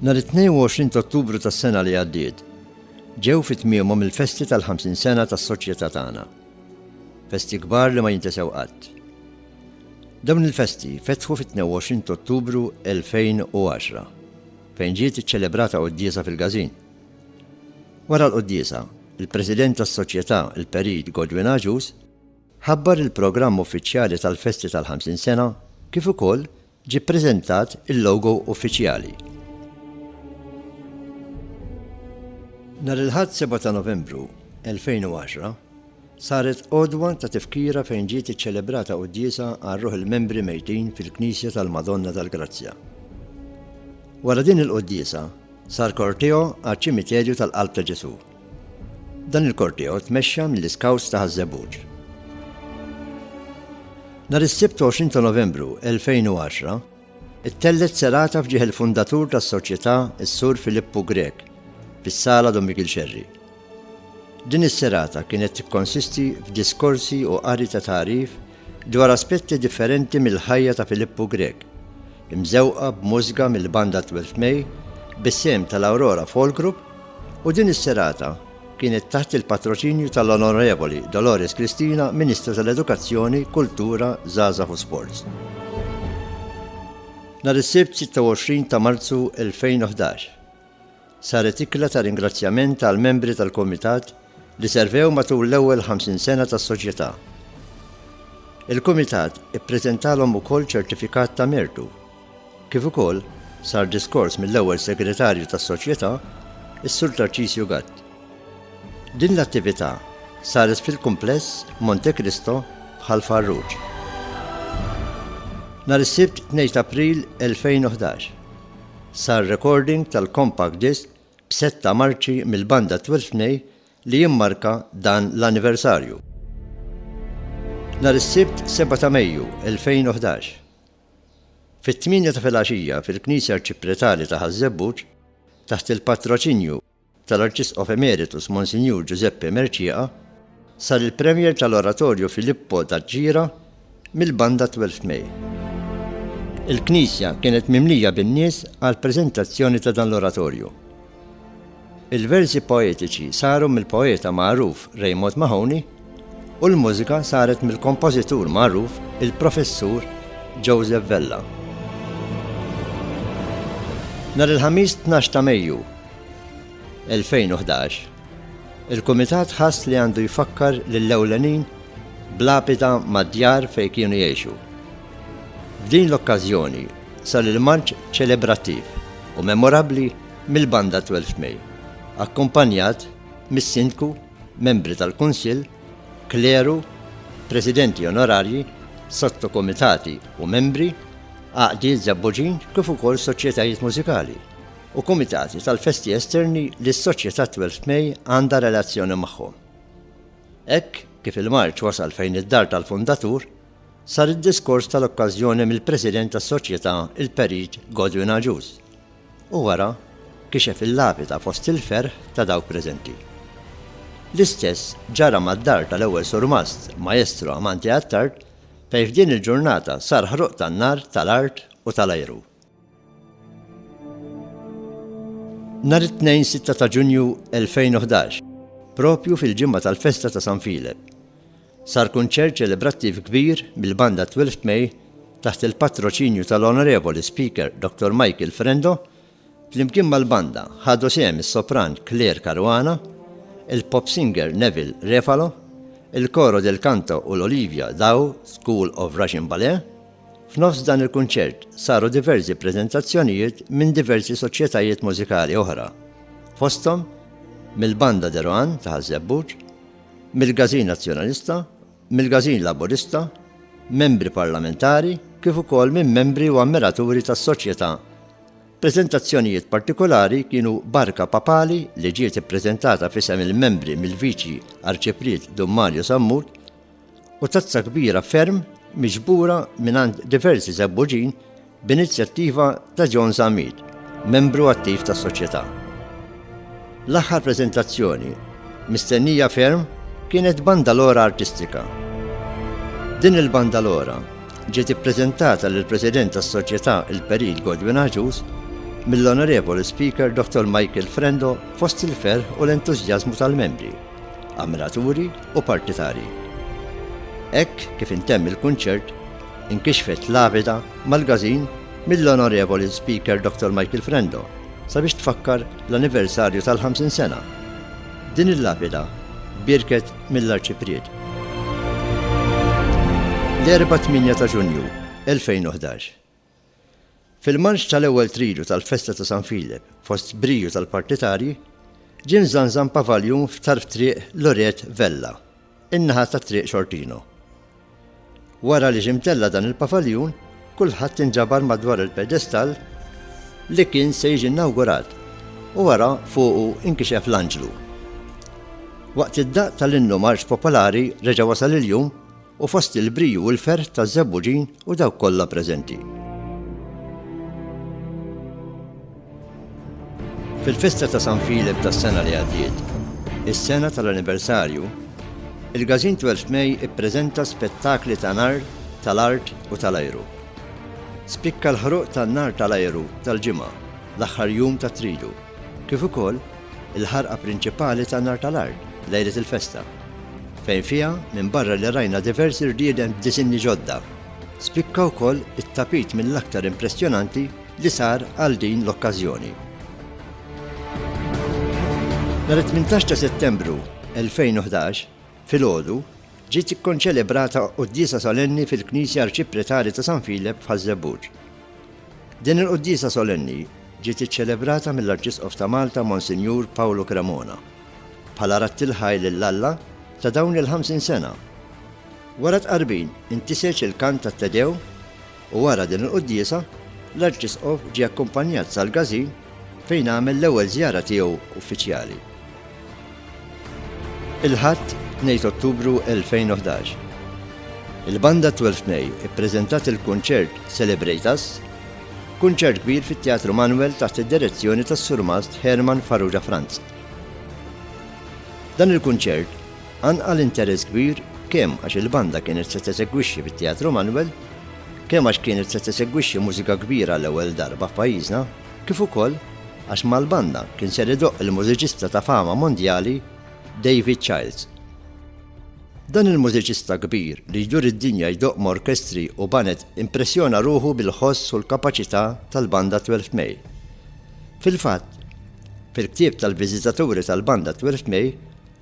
Nhar it-22 ta' Ottubru tas-sena li għaddiet, ġew fi tmiemhom il-festi tal-50 sena tas-soċjetà tagħna. Festi kbar li ma jintesew qatt. Dawn il-festi fetħu fit-22 ta' Ottubru 2010, fejn ġiet iċċelebrata quddiesa fil-Gazin. Wara l-quddiesa, il-President tas-Soċjetà, il-Perit Godwin Aġus, ħabbar il-programm uffiċjali tal-festi tal-50 sena kif ukoll ġie ppreżentat il-logo uffiċjali. Nhar il-Ħadd 7 ta' Novembru 2010 saret għodwa ta' tifkira fejn ġiet iċċelebrata quddiesa għal ruħ il-membri mejtin fil-Knisja tal-Madonna tal-Grazzja. Wara din il-quddiesa sar korteo għaċ-Ċimiterju tal-Qalb ta' Ġesù. Dan il-korteo tmexxa mill-Iskawts ta' Ħaż-Żebbuġ. Nhar is-Sibt 20 ta' Novembru 2010, ittellgħet serata f'ġieħ il-fundatur tas-Soċjetà s-Sur Filippu Grech fis-Sala Don Mikiel Scerri. Din is-serata kienet tikkonsisti f'diskorsi u qari ta' tagħrif dwar aspetti differenti mill-ħajja ta' Filippu Grech, imżewqa b'mużga mill-banda Twelfth May bis-sehem tal-Aurora Folk Group u din is-serata kienet taħt il-patroċinju tal-Onorevoli Dolores Cristina, Ministru tal-Edukazzjoni, Kultura, Żgħażagħ u Sports. Nhar is-Sibt 26 ta' Marzu 2011, Saret ikla ta' ringrazzjament għall-membri tal-Kumitat li servew matul l-ewwel 50 sena tas-Soċjetà. Il-Kumitat ippreżentalhom ukoll ċertifikat ta' mertu, kif ukoll sar diskors mill-ewwel Segretarju tas-Soċjetà, is-Sur Tarċisju Gatt. Din l-attività saret fil-Kumpless Monte Cristo f'Ħal Farruġ. Nhar is-Sibt 2 t'April 2011. Sar rekording tal-compact disc b'setta marċi mill-banda Twelfth May li jimmarka dan l-anniversarju. Nhar is-Sibt 7 ta' Mejju 2011, fit-tmienja ta' filgħaxija fil-Knisja Arċipretali ta' Ħaż-Żebbuġ, taħt il-patroċinju tal-Arċisqof Emeritus Monsinjur Ġużeppe Mercieca sar il-premiere tal-Oratorju Filippo Daġġira mill-Banda Twelfth May. Il-knisja kienet mimlija bin-nies għall-preżentazzjoni ta' dan l-oratorju. Il-versi poetiċi saru mill-poeta magħruf Raymond Mahoney, u l-mużika saret mill-kompożitur magħruf il-Professur Joseph Vella. Nhar il-Ħamis 12 ta' Mejju 2011, il-Kumitat ħass li għandu jfakkar lill-ewlenin bl-għapita mad-djar fejn kienu jgħixu. F'din l-okkażjoni sar il-marċ ċelebrattiv u memorabbli mill-Banda 12 May, akkumpanjat mis-Sindku membri tal-Kunsill, kleru, presidenti onorarji, sottokumitati u membri, għaqdiet żebbuġin kif ukoll soċjetajiet mużikali, u kumitati tal-festi esterni li s-Soċjetà Twelfth May għandha relazzjoni magħhom. Hekk kif il-marċ wasal fejn id-dar tal-fundatur, sar id-diskors tal-okkażjoni mill-President tas-Soċjetà il-Perit Godwin Agius, U wara kixef il-lapida fost il-ferħ ta' dawk preżenti. L-istess ġara mad-dar tal-ewwel surmast, Maestro Amanti Attard, fejn f'din il-ġurnata sar ħruq tan-nar tal-art u tal-ajru. Nhar it-Tnejn 6 ta' Ġunju 2011, propju fil-ġimgħa tal-festa ta' San Filep, Sar kunċert ċelebrattiv kbir mill-Banda Twelfth May taħt il-patroċinju tal-Onorevoli Speaker Dr. Michael Frendo, flimkien mal-Banda ħadu sehem is-Sopran Claire Caruana, il-Pop Singer Neville Refalo, il-Coro del Canto u l-Olivia Daw School of Russian Ballet. F'nofs dan il-kunċert saru diversi preżentazzjonijiet minn diversi soċjetajiet mużikali oħra, fosthom mill-Banda Deroan ta' Ħaż-Żebbuġ, mill-Gażin Nazzjonalista, mill-Gażin Laburista, Membri Parlamentari kif ukoll minn membri u ammiraturi tas-Soċjetà. Preżentazzjonijiet partikolari kienu Barka Papali li ġiet ippreżentata f'isem il-membri mill-Viċi Arċipriet Dun Mario Sammut, u tazza kbira ferm miġbura mingħand diversi żebbuġin b'inizjattiva ta' John Zammit, membru attiv tas-Soċjetà. L-aħħar preżentazzjoni mistennija ferm kienet banda lora artistika. Din il-banda lora ġiet ippreżentata lill-President tas-Soċjetà il-Perit Godwin Agius mill-Onorevoli Speaker Dr. Michael Frendo fost il-ferħ u l-entużjażmu tal-membri. ammiraturi u partitarji. Hekk kif intemm il-kunċert, inkixfet lavida mal-gazin mill-Onorevoli Speaker Dr. Michael Frendo sabiex tfakkar l-anniversarju tal-50 sena. Din il-lapida birket mill-Arċipriet. L-Erbgħa 8 ta' Ġunju 2011 Fil-marċ tal-ewwel tridu tal-festa ta' San Filep fost briju tal-partitarji, ġie mżanżan pavaljun f'tarf Triq Loret Vella, in-naħa ta' Triq Xortino. Wara li ġie mtella' dan il-pavaljun, kulħadd inġabar madwar il-pedestall li kien se jiġi inawgurat u wara fuqu inkixef l-Anġlu. Waqt id-daqq tal-innu marċ popolari reġa' wasal il-jum u fost il-briju u l-ferħ taż-żebbuġin u dawk kollha preżenti. Fil-festa ta' San Filip tas-sena li għaddiet, is-sena tal-anniversarju, il-Gazin 12 May ippreżenta spettakli ta' nar, tal-art u tal-ajru. Spikka l-ħruq tan-nar tal-ajru tal-ġimgħa, l-aħħar jum ta' tridu. kif ukoll il-ħarqa prinċipali tan-nar tal-art lejlet il-festa, fejn fiha minbarra li rajna diversi rrieden b'disinni ġodda, spikka wkoll it-tapit mill-aktar impressjonanti li sar għal din l-okkażjoni. Nhar it-tmintax ta' Settembru 2011, Filgħodu, ġiet ikkonċelebrata quddiesa solenni fil-Knisja Arċipretali ta' San Filep f'Ħaż-Żebbuġ. Din il-quddiesa solenni ġiet iċċelebrata mill-Arċisqof ta' Malta Monsinjur Pawlu Cremona bħala radd il-ħajr lil Alla ta' dawn il-50 sena. Wara t-tqarbin, intiseġ il-kant tat-Te Deum, U wara din il-quddiesa, l-Arċisqof ġie akkumpanjat sal-Gazin fejn għamel l-ewwel żjara tiegħu uffiċjali. Il-Ħadd, 2 Ottubru 2011. Il-Banda Twelfth May ippreżentat il-kunċert Celebrate Us, kunċert kbir fit-Teatru Manuel taħt id-direzzjoni tas-Surmast Herman Farrugia Franz. Dan il-kunċert Qanqal interess kbir kemm għax il-banda kienet se tesegwixxi fit-Teatru Manuel, kemm għax kienet se tesegwixxi mużika kbira għall-ewwel darba f'pajjiżna, kif ukoll għax mal-banda kien ser idoqq il-mużiċista ta' fama mondjali David Childs. Dan il-mużiċista kbir li jdur id-dinja jdoqq ma' orkestri u baned impressjona ruħu bil-ħoss u l-kapaċità tal-banda Twelfth May. Fil-fatt, fil-ktieb tal-viżitaturi tal-banda Twelfth May,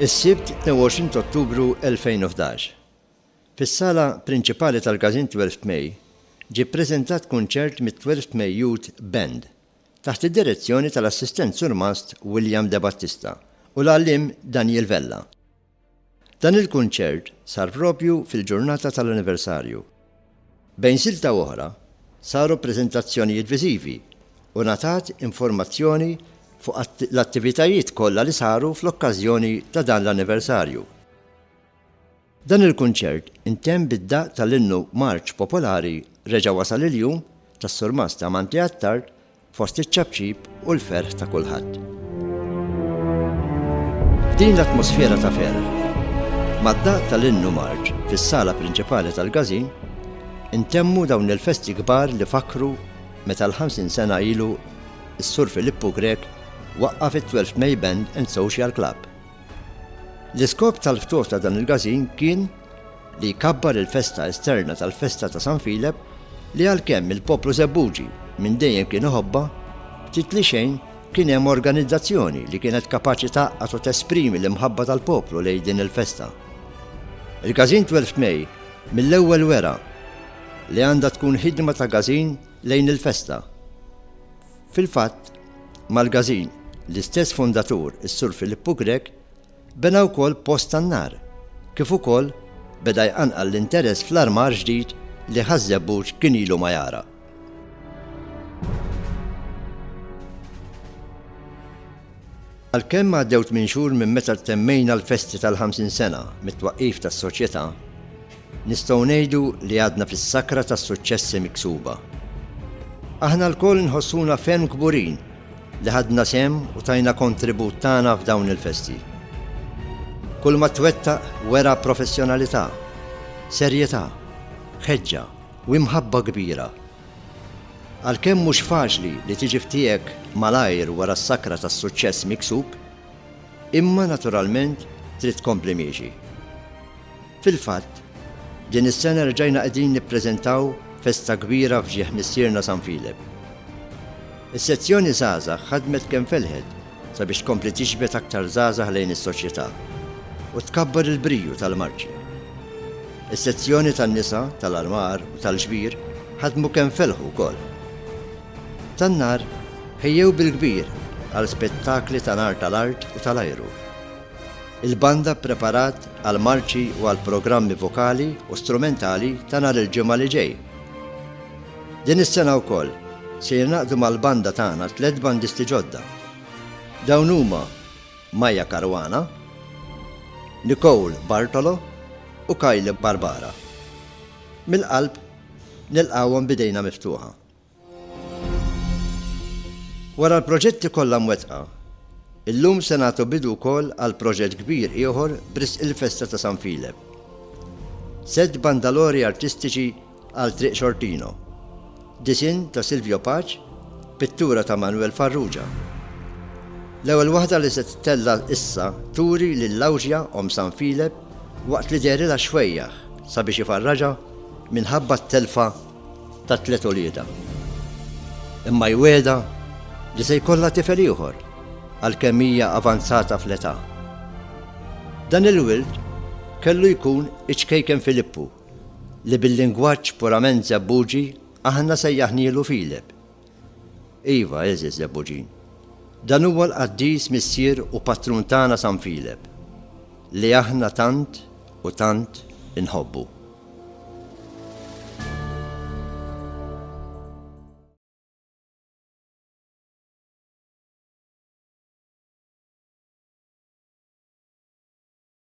Is-Sibt 22 ta' Ottubru 2011, fis-Sala Prinċipali tal-Każin Twelfth May, ġie ppreżentat kunċert mit-Twelfth May Youth Band, taħt id-direzzjoni tal-Assistent Surmast William Debattista u l-Għalliem Daniel Vella. Dan il-kunċert sar propju fil-ġurnata tal-anniversarju. Bejn silta u oħra, saru preżentazzjonijiet viżivi u ngħatat informazzjoni fuq l-attivitajiet kollha li saru fl-okkażjoni ta' dan l-anniversarju. Dan il-kunċert intemm bid-daqq tal-innu Marċ Popolari Reġa' Wasal il-Jum tas-Surmast Amanti Attard Fost iċ-ċapċip u l-ferħ ta' kulħadd. F'din l-atmosfera ta' ferħ, mad-daqq tal-innu Marġ fis-sala prinċipali tal-Każin, intemmu dawn il-festi kbar li fakkru meta l-50 sena ilu s-Sur Filippu Grech waqqaf it-Twelfth May Band and Social Club. L-iskop tal-ftuħ ta' dan il-Każin kien li jkabbar il-festa esterna tal-festa ta' San Filep li għalkemm il-poplu Żebbuġi minn dejjem kien iħobbha, ftit li xejn kien hemm organizzazzjoni li kienet kapaċi tgħaqqad u tesprimi l-imħabba tal-poplu lejn din il-festa. Il-Gażin 12 May mill-ewwel wera li għandha tkun ħidma ta' gażin lejn il-festa. Fil-fatt, mal-gażin, l-istess fundatur, is-Sur Filippu Grech, Bena wkoll post tan-nar, kif ukoll beda jqanqal l-interess fl-armar ġdid li Ħaż-Żebbuġ kien ilu ma jara. Għalkemm għaddew tmien xhur minn meta temmejna l-festi tal-50 sena mit-twaqqif tas-Soċjetà, nistgħu ngħidu li għadna fis-sakra tas-suċċessi miksuba. Aħna lkoll nħossuna ferm kburin li ħadna sehem u tajna kontribut tagħna f'dawn il-festi. Kulma twettaq wera professjonalità, serjetà, ħeġġa u imħabba kbira. Għalkemm mhux faċli li tiġi f'tiegħek malajr wara s-sakra tas-suċċess miksub, imma naturalment trid tkompli miexi. Fil-fatt, din is-sena reġajna qegħdin nippreżentaw festa kbira f'ġieħ Missierna San Filep. Is-sezzjoni Żgħażagħ ħadmet kemm felħet sabiex tkompli tiġbed aktar żgħażagħ lejn is-soċjetà u tkabbar il-briju tal-marċi. Is-sezzjoni tan-nisa, tal-armar u tal-ġbir ħadmu kemm felħu wkoll. Tan-nar ħejjew bil-kbir għal spettakli ta' nar tal-art u tal-ajru. Il-banda ppreparat għal marċi u għal programmi vokali u strumentali ta' nhar il-Ġimgħa li ġej. Din is-sena wkoll se jingħaqdu mal-banda tagħna tliet bandisti ġodda. Dawn huma Maya Caruana, Nicole Bartolo u Kyle Barbara. Mill-qalb nilqgħuhom b'idejna miftuħa. Wara l-proġetti kollha mwettqa, illum se nagħtu bidu wkoll għal proġett kbir ieħor b'risq il-festa ta' San Filep. Sett bandalori artistiċi għal Triq Xortino, disinn ta' Silvio Paċ, pittura ta' Manwel Farrugia. L-ewwel waħda li se tittella' issa turi lil Lawġja, omm San Filep, waqt li dehrilha xwejjaħ sabiex ifarraġha minħabba t-telfa ta' tliet uliedha. Imma jwiegħdha li se jkollha tifel ieħor għalkemm hija avanzata fl-età. Dan il-wild kellu jkun iċ-ċkejken Filippu, li bil-lingwaġġ purament Żebbuġi aħna sejjaħnielu Filip, Iva, għeżież Lebbogin. Dan huwa l-qaddis missier u patrun tagħna San Filep, li aħna tant u tant inħobbu.